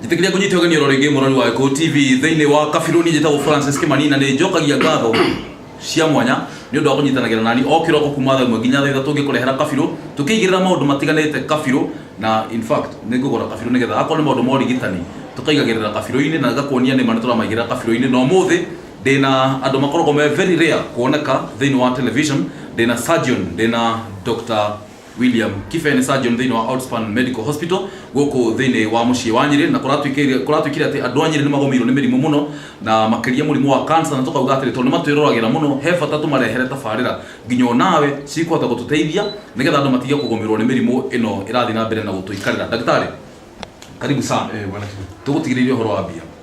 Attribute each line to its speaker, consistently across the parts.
Speaker 1: njĩtĩkĩria
Speaker 2: kũnyita ũgeni oro rĩngĩ mũrori wa gĩkũyũ tv thĩinĩ wa kabirũ niĩ njĩtagwo francis kĩmani na nĩ njokagia ngatho cia mwanya nĩ ũndũ wa kũnyitanagĩra nani o kĩroko kuma thaa ĩmwe nginya thaa ithatũ ngĩkũrehera kabirũ tũkĩigĩrĩra maũndũ matiganĩte kabirũ na in fact nĩ ngũgũra kabirũ nĩgetha akorwo nĩ maũndũ ma ũrigitani tũkaigagĩrĩra kabirũ-inĩ na ngakuonia nĩma nĩ tũramaigĩrĩra kabirũ-inĩ na ũmũthĩ ndĩna andũ makoragwo me very rare kuoneka thĩinĩ wa television ndĩna surgeon ndĩna Doctor William Kibe nĩ surgeon thĩinĩ wa Outspan Medical Hospital gũkũ thĩinĩ wa mũciĩ wa Nyĩrĩ na kũratuĩkĩire kũratuĩkire atĩ andũ a Nyĩrĩ nĩ magomeirwo nĩ mĩrimũ mũno na makĩria mũrimũ wa cancer na tũkauga atĩrĩ tondũ nĩ matwĩroragĩra mũno he bata tũmarehere tabarĩra nginya o nawe cikũhota gũtũteithia nĩgetha andũ matige kũgomerwo nĩ mĩrimũ ĩno ĩrathiĩ na mbere na gũtũikarĩra. Ndagĩtarĩ karibu sana. Ĩĩ bwana Kibe. Tũgũtigĩrĩire
Speaker 3: ũhoro wa
Speaker 2: mbia.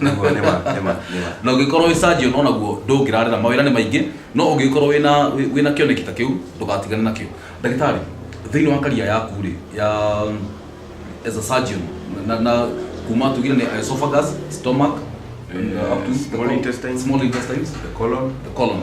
Speaker 2: Nĩguo, nĩma, nĩma, nĩma. na ũngĩkorwo wĩ surgeon o naguo ndũngĩrarĩra mawĩra nĩ maingĩ no ũngĩkorwo wĩna wĩ- wĩna kĩoneki ta kĩu ndũgatigane nakĩo ndagĩtarĩ thĩinĩ wa karia yaku rĩ ya as a surgeon na, na kuma tugire nĩ esophagus stomach na up to Small intestine. small
Speaker 3: intestines The colon. the colon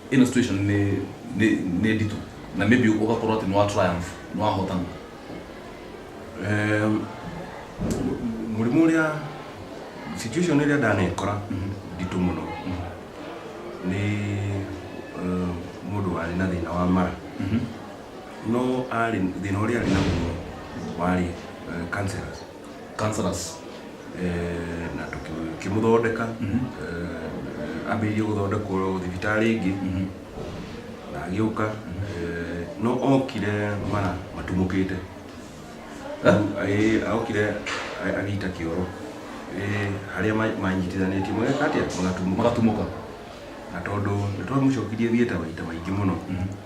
Speaker 2: ino situation nĩ nĩ nĩ nditũ na maybe ũgakorwo atĩ nĩ wa triumph nĩ wahotana Em,
Speaker 3: mu- mũrimũ ũrĩa situation ĩrĩa ndanekora nditũ mũno nĩ eh, mũndũ warĩ na thĩna wa mara no arĩ thĩna ũrĩa arĩ naguo warĩ eh, cancerous councillors eh, na tũkĩmũthondeka eh, ambĩrĩirie gũthondekwo thibitarĩ ĩngĩ na agĩũka eh, no okire mara matumũkĩte Ĩ, okire a- agĩita kĩoro Ĩ, harĩa ma- manyitithanĩtie mageka atĩa magatumũka mũgatumuka
Speaker 2: na
Speaker 3: tondũ nĩ twamũcokirie thieta maita maingĩ mũno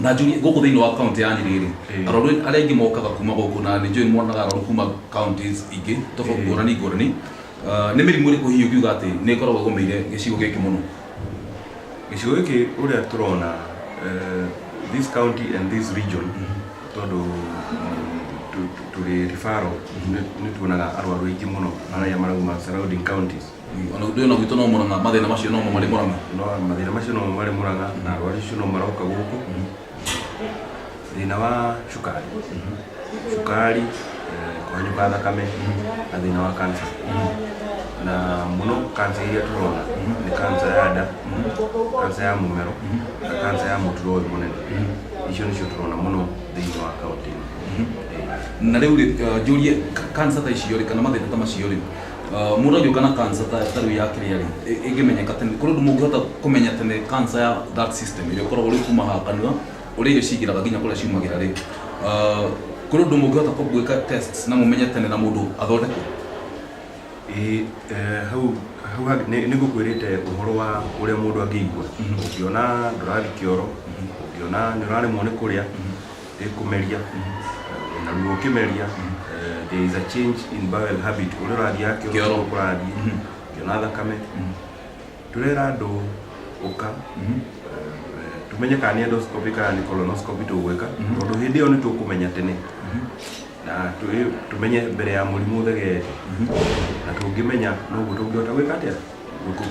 Speaker 2: na njũrie gũkũ thĩinĩ wa kaunti ya nyĩrĩ rĩ Eh. arwaru arĩa aingĩ mokaga kuma gũkũ na nĩ njũĩ nĩ monaga arwaru kuma counties ingĩ tofauti Eh. ngũrani ngũrani Ah, nĩ mĩrimũ ĩrĩkũ hihi ũngiuga atĩ nĩ ĩkoragwo ĩgũmĩire gĩcigo gĩkĩ mũno
Speaker 3: gĩcigo gĩkĩ ũrĩa tũrona eh, this county and this region tondũ mm, tu- tu- tũrĩ referral nĩ- nĩ tuonaga arwaru aingĩ mũno arĩa marauma surrounding counties ona undu ena gwitå
Speaker 2: no må ranga mathä na macio no mo marä må ranga no mathĩna macio no
Speaker 3: marĩ mũranga na arwaru acio no maroka gũkũ thĩna wa cukari cukari eh, kũhanyũka thakame na thĩna wa kansa na mũno kansa iria tũrona nĩ kansa ya nda kansa ya mũmero na kansa ya mũturo ũyũ mũnene icio nĩcio tũrona mũno thĩinĩ wa kaũntĩ ĩno
Speaker 2: na rä u rä njå rie kansa ta icio rä kana mathä na ta macio rä Ah, mũndũ angĩũka na cancer ta ta rĩu ya kĩrĩa rĩ ĩ- ĩngĩmenyeka tene kũrĩ ũndũ mũngĩhota kũmenya tene cancer ya that system ĩrĩa ũkoragwo rĩu kuma haha kanua ũrĩa irio cingĩraga nginya kũrĩa ciumagĩra rĩ Ah, kũrĩ ũndũ mũngĩhota kũ- gwĩka tests na mũmenye tene na mũndũ athondekwo Ĩĩ,
Speaker 3: eh, hau hau hangĩ- nĩ nĩ ngũkwĩrĩte ũhoro wa ũrĩa mũndũ angĩigua ũngĩona ndũrathiĩ kĩoro ũngĩona nĩ ũraremwo nĩ kũrĩa ĩkũmeria Eh, na ruo ũkĩmeria eh, there is a change in bowel habit ũrĩa ũrathiaga Kĩoro. kĩoro ũrĩa kũrathiĩ Mhm. kĩona thakame tũrera andũ ũka Mhm. eh, eh, tũmenye kana nĩ endoscopy kana nĩ colonoscopy tũgwĩka Mhm. tondũ hĩndĩ ĩyo nĩ tũkũmenya tene na tũ- tũmenye mbere ya mũrimũ ũthegeete na tũngĩmenya noguo tũngĩhota gwĩka atĩa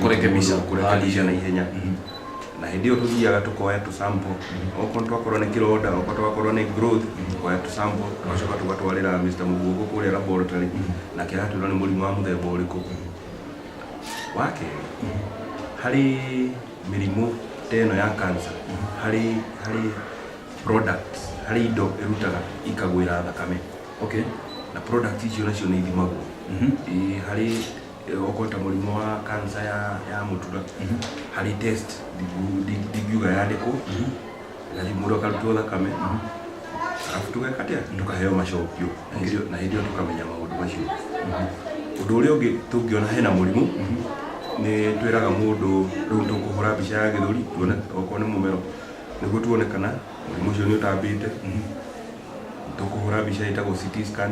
Speaker 2: kũrekebisha
Speaker 3: kũrekebisha na ihenya na hĩndĩ ĩyo tũthiaga tũkoya tũ sample okorwo nĩ twakorwo nĩ kĩronda okorwo twakorwo nĩ growth tũkoya tũ sample tũgacoka tũgatwarĩra Mr. Mũguongo kũrĩa laboratory nake agatwĩra nĩ mũrimũ wa mũthemba ũrĩkũ wa kerĩ harĩ mĩrimũ ta ĩno ya cancer harĩ harĩ products harĩ indo ĩrutaga ikagwĩra thakame okay
Speaker 2: na product
Speaker 3: icio nacio nĩ ithimagwo ĩĩ harĩ okorwo ta mũrimũ wa kansa ya ya mũtura harĩ test ndingu- ndi- ndingiuga yandĩkwo na rĩu mũndũ akarutwo thakame arabu tũgeka atĩa tũkaheo macokio na hĩndĩ ĩyo- na hĩndĩ ĩyo tũkamenya maũndũ macio ũndũ ũrĩa ũngĩ tũngĩona hena mũrimũ nĩ twĩraga mũndũ rĩu tũkũhũra mbica ya gĩthũri tuone okorwo nĩ mũmero nĩguo tuone kana mũrimũ ũcio nĩ ũtambĩte tũkũhũra mbica ĩtagwo CT scan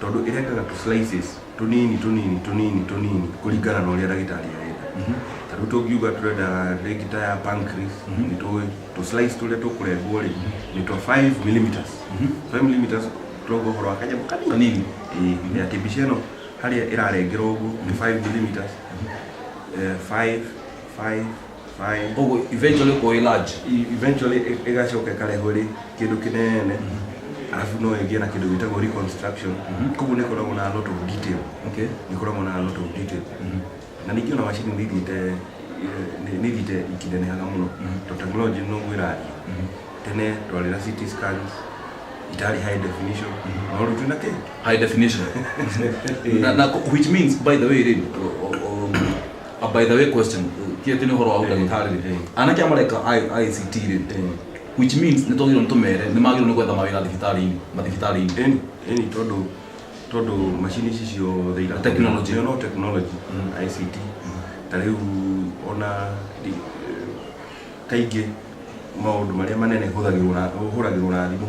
Speaker 2: tondũ
Speaker 3: ĩrengaga tũ slices tũnini tũnini tũnini tũnini kũringana na ũrĩa ndagĩtarĩ arenda ta rĩu tũngiuga tũrenda rĩngĩ ta ya pancreas nĩ tũĩ tũ slice tũrĩa tũkũrengwo rĩ nĩ twa 5 millimeters 5 millimeters tũrauga ũhoro wa kanyamũ kanini Kanini. Ĩĩ, ya kĩmbica ĩno harĩa ĩrarengerwo ũguo nĩ 5 millimeters Eh, 5 5 Aye. koguo eventually
Speaker 2: kũĩ large E- eventually ĩ-
Speaker 3: ĩgacoka ĩkarehwo ĩrĩ kĩndũ kĩnene arabu no ĩgĩe na kĩndũ gĩtagwo reconstruction koguo nĩ ĩkoragwo na a lot of detail okay nĩ ĩkoragwo na
Speaker 2: a lot of
Speaker 3: detail na ningĩ ona macini nĩ ithiĩte eh, nĩ- nĩ ithiĩte ikinenehaga mũno to technology noguo ĩrathiĩ tene twarĩ na CT scans itarĩ high definition no rĩu twĩna kĩ high definition
Speaker 2: na, na, which means by the way rĩ o- o- o- A by the way question, ti atĩ nĩ ũhoro wa hau ndagĩtarĩ-rĩ, anake aya mareka I- ICT-rĩ, which means nĩ twagĩrĩirwo nĩ tũmere nĩ magĩrĩirwo nĩ gwetha mawĩra thibitarĩ-inĩ, mathibitarĩ-inĩ. Ĩni, ĩni tondũ,
Speaker 3: tondũ macini ici ciothe iratũmĩra- Technology. Nĩ no technology, ICT. Ta rĩu ona ri- kaingĩ maũndũ marĩa manene hũthagĩrwo na, hũragĩrwo na thimũ.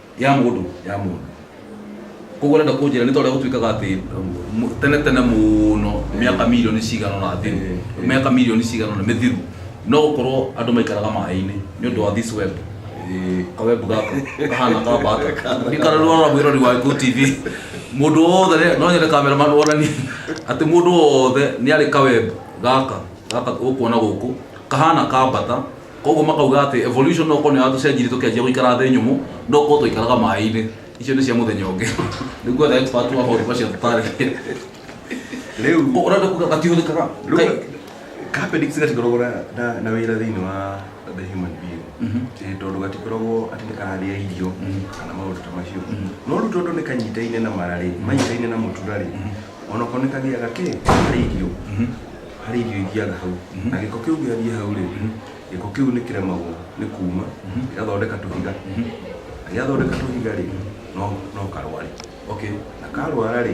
Speaker 2: ya mundu ya mundu koguo renda kunjira ni toria gutuikaga ati mu- tene tene muno miaka milioni cigana na thiru Eh, eh. miaka milioni cigana na mithiru no gukorwo andu maikaraga maĩ-ini ni undu wa this web Eh, kawebu gaka kahana ka bata ikara rora mwirori wa Go TV mundu wothe rĩ- no nyende cameraman wonani ati mundu wothe ni ari kawebu gaka gaka ukuona guku kahana ka bata Koguo makauga atĩ evolution no gũkorwo nĩ yatũcenjirie tũkĩanjia gũikara thĩ nyũmũ, no gũkorwo twaikaraga maĩ-inĩ. Icio nĩ cia mũthenya ũngĩ. Nĩguo the expert wa maũndũ macio atũtarĩrie. Rĩu Ũguo ũrenda kuga gatihũthĩkaga? Kai-
Speaker 3: kapendix gatikoragwo na- na- na wĩra thĩinĩ wa the human being Ĩ, tondũ gatikoragwo atĩ nĩ kararĩa irio kana maũndũ ta macio no rĩu tondũ nĩ kanyitaine na mararĩ manyitaine na mũturarĩ onokorwo nĩ kagĩaga kĩ karĩ irio harĩ irio ithiaga hau na gĩko kĩu gĩathiĩ hau rĩ gĩko kĩu nĩ kĩremagwo nĩ kuma gĩgathondeka tũhiga na gĩathondeka tũhiga rĩ no no karware okay na
Speaker 2: karwara
Speaker 3: rĩ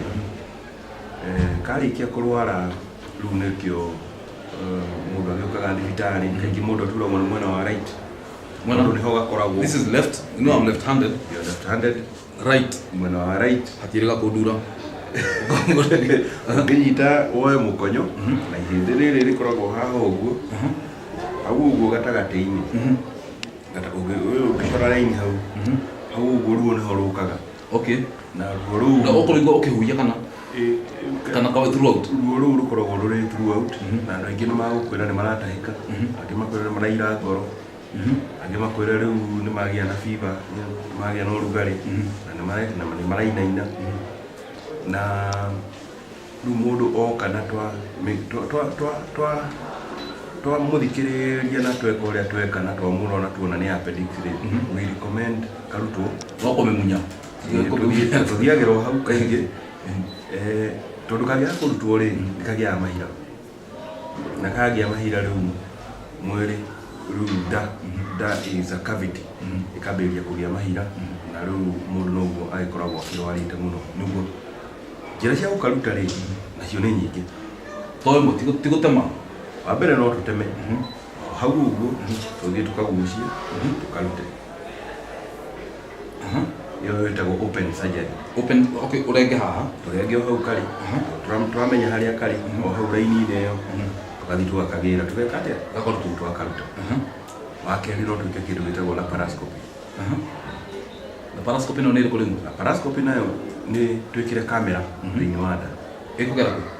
Speaker 3: eh, karĩkia kũrwara rĩu nĩkĩo eh, mũndũ agĩũkaga thibitarĩ kaingĩ mũndũ aturagwo nĩ mwena wa right Mwena- tondũ nĩho gakoragwo This is left. You know
Speaker 2: I'm left-handed.
Speaker 3: you're left
Speaker 2: handed right
Speaker 3: mwena
Speaker 2: wa right hatirĩ
Speaker 3: gakũndura ũngĩnyita woe mũkonyo na ihĩndĩ rĩrĩ rĩkoragwo haha ũguo hau ũguo gatagatĩ-inĩ Gata- ũngĩ- ũyũ ũngĩcora raini hau hau ũguo ruo nĩho rũkaga okay na ruo rũu na ũkũrĩigua ũkĩhuhia kana
Speaker 2: ĩ- ĩ- kana kawe throughout ruo rũu rũkoragwo
Speaker 3: rũrĩ throughout na andũ aingĩ nĩ magũkwĩra nĩ maratahĩka angĩ makwĩra nĩ maraira ngoro angĩ makwĩre rĩu nĩ magĩa na fiba nĩ magĩa na ũrugarĩ na nĩ mare- na nĩ marainaina na rĩu mũndũ oka na twa mĩ- twa- twa- twa- twa- twamũthikĩrĩria na tweka ũrĩa tweka na twamũrora na tuona nĩ appendix rĩ we recommend karutwo no kũmĩmunya Eh,
Speaker 2: tũthiĩ-
Speaker 3: tũthiagĩra o hau kaingĩ Eh, tondũ kangĩaga kũrutwo rĩ nĩ kagĩaga mahira na kagĩa mahira rĩu mwĩrĩ rĩu nda nda is a cavity ĩkambĩrĩria kũgĩa mahira na rĩu mũndũ noguo agĩkoragwo akĩrwarĩte mũno nĩguo njĩra cia gũkaruta rĩ nacio nĩ nyingĩ toĩ mo ti gũ-
Speaker 2: ti gũtema wa mbere no
Speaker 3: tũteme hau ũguo tũthiĩ tũkagucie tũkarute Aha. ĩyo ĩtagwo open surgery Open, okay, ũrenge
Speaker 2: haha. tũrenge o hau karĩ
Speaker 3: Aha. Tũra- tũramenya harĩa karĩ o hau raini-inĩ ĩyo tũgathiĩ tũgakagĩra tũgeka atĩa gakorwo tũu twakaruta Aha. wa kerĩ no twĩke kĩndũ gĩtagwo laparoscopy Aha.
Speaker 2: Laparoscopy ĩno nĩ ĩrĩkũ rĩu? laparoscopy nayo
Speaker 3: nĩ twĩkĩre kamera thĩinĩ wa nda Ĩkũgera kũ?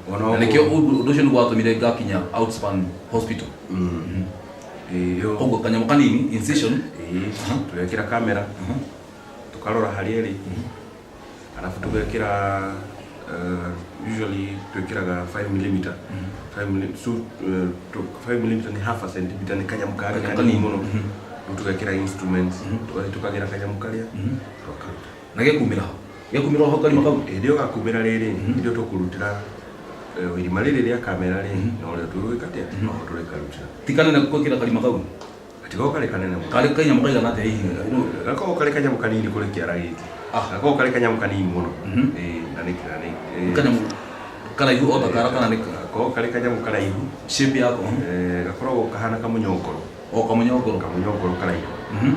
Speaker 2: Ona na nĩkĩo ũguo. ũndũ ũndũ ũcio nĩ gwatũmire ngakinya outspan hospital Mm. Ĩĩ, yo. koguo kanyamũ kanini incision Ĩĩ, Aha. tũgekĩra
Speaker 3: kamera Aha. tũkarora harĩa ĩrĩ arabu tũgekĩra uh, usually twĩkĩraga 5 mm 5 mm so, uh, tũ- 5 mm ni half a centimeter ni kanyamũ kari Kanyamũ kanini kanini. mũno Mhm. rĩu tũgekĩra instruments tũgathi tũkagĩra kanyamũ karĩa Mhm. tũkaruta Na gĩkumĩra ho,
Speaker 2: gĩkumĩra ho karima kau. Hĩndĩ ĩyo gakumĩra rĩrĩ,
Speaker 3: hĩndĩ ĩyo tũkũrutĩra eh, irima rĩrĩ rĩa kamera rĩ, na ũrĩa tũgwĩka atĩa, no ho tũrĩkarutĩra. Ti kanene gwĩkĩra
Speaker 2: karima kau. Gatigoo karĩ kanene
Speaker 3: mũno. Karĩ kanyamũ kaigana atĩa hihi?
Speaker 2: Nĩ- Gakoragwo karĩ kanyamũ
Speaker 3: kanini kũrĩ kĩara gĩkĩ. Ah. Gakoragwo karĩ kanyamũ kanini mũno. Mhm. Ĩĩ, na nĩ na nĩ- ĩĩ. Kanyamũ
Speaker 2: karaihu o ta kara kana nĩ ka- Gakoragwo karĩ kanyamũ
Speaker 3: karaihu. shape yako.
Speaker 2: Eh, gakoragwo
Speaker 3: kahana kamũnyongoro. O kamũnyongoro. Kamũnyongoro karaihu. Ĩĩ,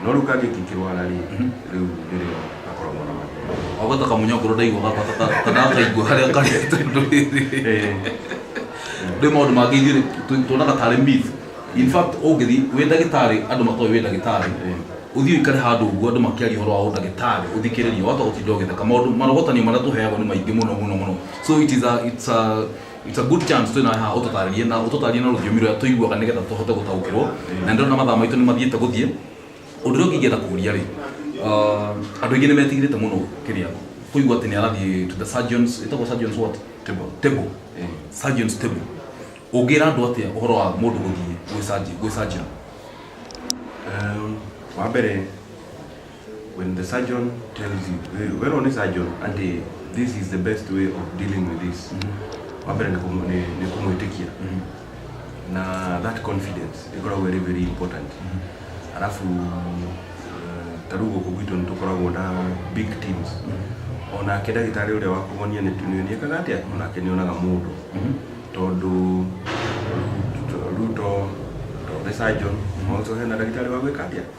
Speaker 3: no rĩu kangĩ kĩngĩrwara rĩ, rĩu nĩrĩo gakoragwo na mathĩna. Wagwata kamũnyongoro ndaiguaga
Speaker 2: ta- ta- ta- ta ndakaigua harĩa karĩ tondũ rĩrĩ. Ĩĩ. Nĩ maũndũ mangĩ ithuĩ tũ- tuonaga tarĩ myth. In fact, ũngĩthiĩ wĩ ndagĩtarĩ andũ matoĩ wĩ ndagĩtarĩ, ũthiĩ ũikare handũ ũguo andũ makĩaria ũhoro wa ũndagĩtarĩ ũthikĩrĩrie wahota gũtinda ũgĩtheka. Maũndũ marogotanio marĩa tũheagwo nĩ maingĩ mũno mũno mũno. So it is a, it's a It's a good chance twina haha ututarie na ututarie na rũthiomi rũrĩa tũiguaga nĩgetha tũhote gũtaũkĩrwo na ndĩrona mathaa maitũ nĩ mathiĩte gũthiĩ ũndũ ũrĩa ũngĩngĩenda kũria rĩ uh, andũ aingĩ nĩ metigĩrĩte mũno kĩrĩa kũigua atĩ nĩ arathiĩ to the surgeons ĩtagwo surgeons what Table. table surgeons table ũngĩra andũ atĩa ũhoro wa mũndũ gũthiĩ gwĩ surgeon- gwĩ surgeon Em,
Speaker 3: wa mbere When the surgeon tells you, eh, wero ni surgeon, ati this is the best way of dealing with this. Wambere ni kumu- ni- ni kumwitikia. Na that confidence ikoragwo very very important. Alafu eh, ta rĩu gũkũ gwitũ nĩ tũkoragwo na big teams. Onake ndagĩtarĩ ũrĩa wakuonia nĩ nĩekaga atĩa? Onake nĩonaga mũndũ. Tondũ Ruto, Ruto, the surgeon, also hena ndagĩtarĩ wa gwĩka atĩa?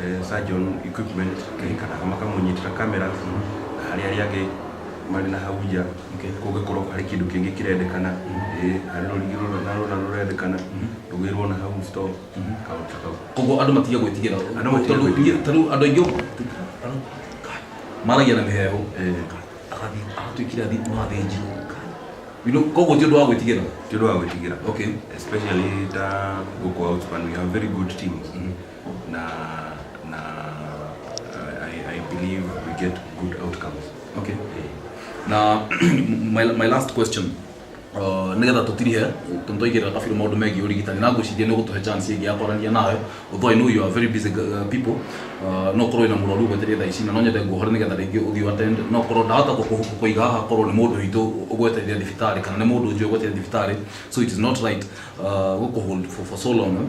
Speaker 3: eh, surgeon equipment Okay. kana kamwe kamunyitira kamera harĩa arĩa angĩ marĩ na hau nja Okay. kũngĩkorwo harĩ kĩndũ kĩngĩ kĩrendekana eh, harĩ rũrigi rũna na rũna rũrendekana rũgĩrwo na hau store kaũndũ ta kau koguo andå matige gwä tigä
Speaker 2: ra Andũ matige gwĩtigĩra. tondå andå aingä maragia na mä heho Eh, agathiĩ agatå ikira thiä no athä njirwo koguo ti å ndå wa gwä tigä ra ti ũndũ wa gwĩtigĩra okay
Speaker 3: especially ta gũkũ outspan we have very good teams na na uh, I, I believe we get good outcomes okay Eh,
Speaker 2: na my, my last question uh, nigetha tutirihe tondu twaigirira kabiru maundu megiĩ urigitani na ngwiciria nĩ ũgũtũhe chance ĩngĩ ya kwaranĩria nawe although I know you are very busy uh, people uh, no korwo wĩna mũrwaru ũgwetereire thaa ici na no nyende nguohore nigetha rĩngĩ ũthiĩ ũattend no korwo ndahota kũkũ- kũiga haha korwo nĩ mũndũ witũ ũgwetereire thibitarĩ kana nĩ mũndũ njũĩ ũgwetereire thibitarĩ so it is not right uh, gũkũhold for, for so long eh.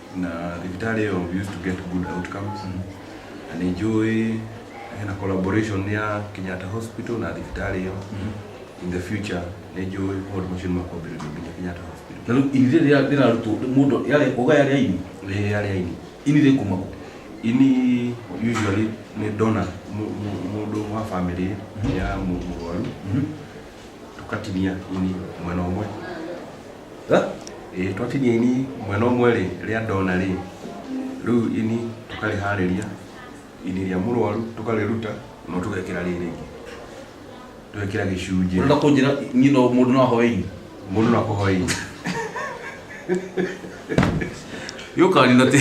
Speaker 3: na thibitarĩ ĩyo we used to get good outcomes na nĩ njũĩ hena collaboration ya Kenyatta Hospital na thibitarĩ ĩyo in the future nĩ njũĩ maũndũ macio nĩ makwambĩrĩrio nginya Kenyatta Hospital na rĩu ini rĩrĩa
Speaker 2: rĩrarutwo mũndũ yarĩ ũga yarĩ aini rĩrĩa rĩa ini ini rĩkumagwo ini
Speaker 3: usually nĩ ndona mũ- mũ- mũndũ wa family ya mũ- mũrwaru tũkatinia ini mwena ũmwe Ĩĩ twakinya ini mwena ũmwe rĩ, rĩa ndona rĩ, rĩu ini tũkarĩharĩria, ini rĩa mũrwaru tũkarĩruta no tũgekĩra rĩrĩ rĩngĩ, tũgekĩra gĩcunjĩ. Ũrenda kũnjĩra niĩ
Speaker 2: no mũndũ no ahoe ini? Mũndũ no akũhoe ini. Yũkani na ti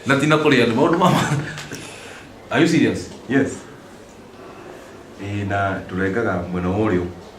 Speaker 2: na ti na kũrĩa andũ maũndũ ma Are you serious? Yes.
Speaker 3: Ĩĩ na tũrengaga mwena wa ũrĩo.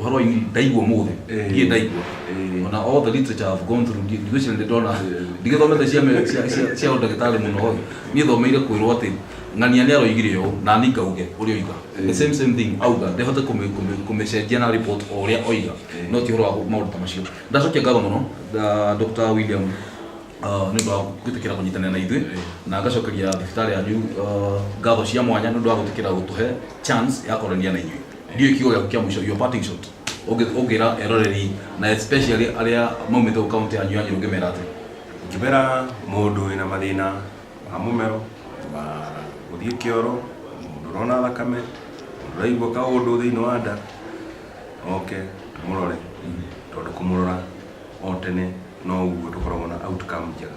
Speaker 2: ũhoro ũyũ ndaigua mũthĩ Eh. ndiĩ ndaigua Eh. ona all the literature I've gone through ndi- ndigwĩciria nĩ ndona ndigĩthomete cia me- cia- cia- cia ũndagĩtarĩ mũno ĩ niĩ thomeire kwĩrwo atĩ ng'ania nĩ aroigire ũũ na niĩ ngauge ũrĩa oiga the same same thing auga ndĩhote kũmĩ- kũmĩ- kũmĩcenjia na report o ũrĩa oiga no ti ũhoro wa maũndũ ta macio ndacokia ngatho mũno ah, Dr. William ah, nĩ ũndũ wa gwĩtĩkĩra kũnyitanĩra na ithuĩ na ngacokeria thibitarĩ yanyu ah, ngatho cia mwanya nĩ ũndũ wa gwĩtĩkĩra gũtũhe chance ya kwaranĩria na inyuĩ ndio ikiwa ya kia mwisho your parting shot Ũngĩ- ũngĩra eroreri na especially arĩa maumĩte gũ kaunti yanyu yanyu ũngĩmera atĩ ngĩbera
Speaker 3: mũndũ wĩna mathĩna ma mũmero ma gũthiĩ kĩoro mũndũ ũrona thakame mũndũ ũraigua kaũndũ thĩinĩ wa nda oke tũmũrore tondũ kũmũrora o tene no ũguo tũkoragwo na outcome njega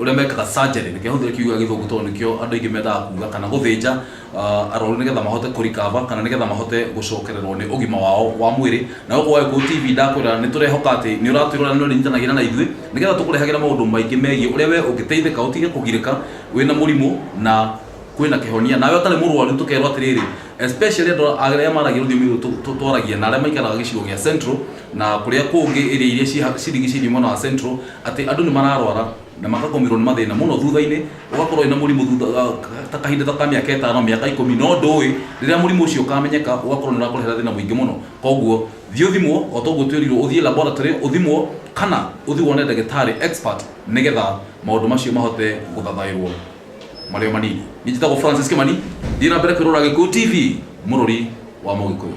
Speaker 2: ũrĩa mekaga surgery nĩkĩo hũthĩra kiuga gĩthũngũ tondũ nĩkĩo andũ aingĩ mendaga kuga kana gũthĩnja ah, arwaru nĩgetha mahote kũrikava kana nĩgetha mahote gũcokererwo nĩ ũgima wao wa mwĩrĩ na gũkũ wagĩkũũ tv ndakwĩra nĩ tũrehoka atĩ nĩ ũratwĩrora nĩ ũrĩnyitanagĩra na ithuĩ nĩgetha tũkũrehagĩra maũndũ maingĩ megiĩ ũrĩa we ũngĩteithĩka ũtige kũgirĩka wĩna mũrimũ na kwĩna kĩhonia nawe ũtarĩ mũrwaru tũkerwo atĩrĩrĩ especially andũ arĩa maragia rũthiomi rũrũ tũ- tũ- twaragia na arĩa maikaraga gĩcigo gĩa central na kũrĩa kũngĩ ĩrĩa iria ciha- cirigicĩirie mwena wa central Atĩ andũ nĩ mararwara na makagũmĩrwo nĩ mathĩna mũno thutha-inĩ, ũgakorwo wĩna mũrimũ thutha ta kahinda ta ka mĩaka ĩtano, mĩaka ikũmi, no ndũũĩ, rĩrĩa mũrimũ ũcio ũkamenyeka ũgakorwo nĩ ũrakũrehera thĩna mũingĩ mũno. Koguo thiĩ ũthimwo o ta ũguo twerirwo, ũthiĩ laboratory ũthimwo kana ũthiĩ wone ndagĩtarĩ expert nĩgetha maũndũ macio mahote gũthathaũrwo marĩ o manini. Niĩ njĩtagwo Francis Kĩmani, thiĩ na mbere kwĩrorera Gĩkũyũ TV, mũrũri wa Mũgĩkũyũ.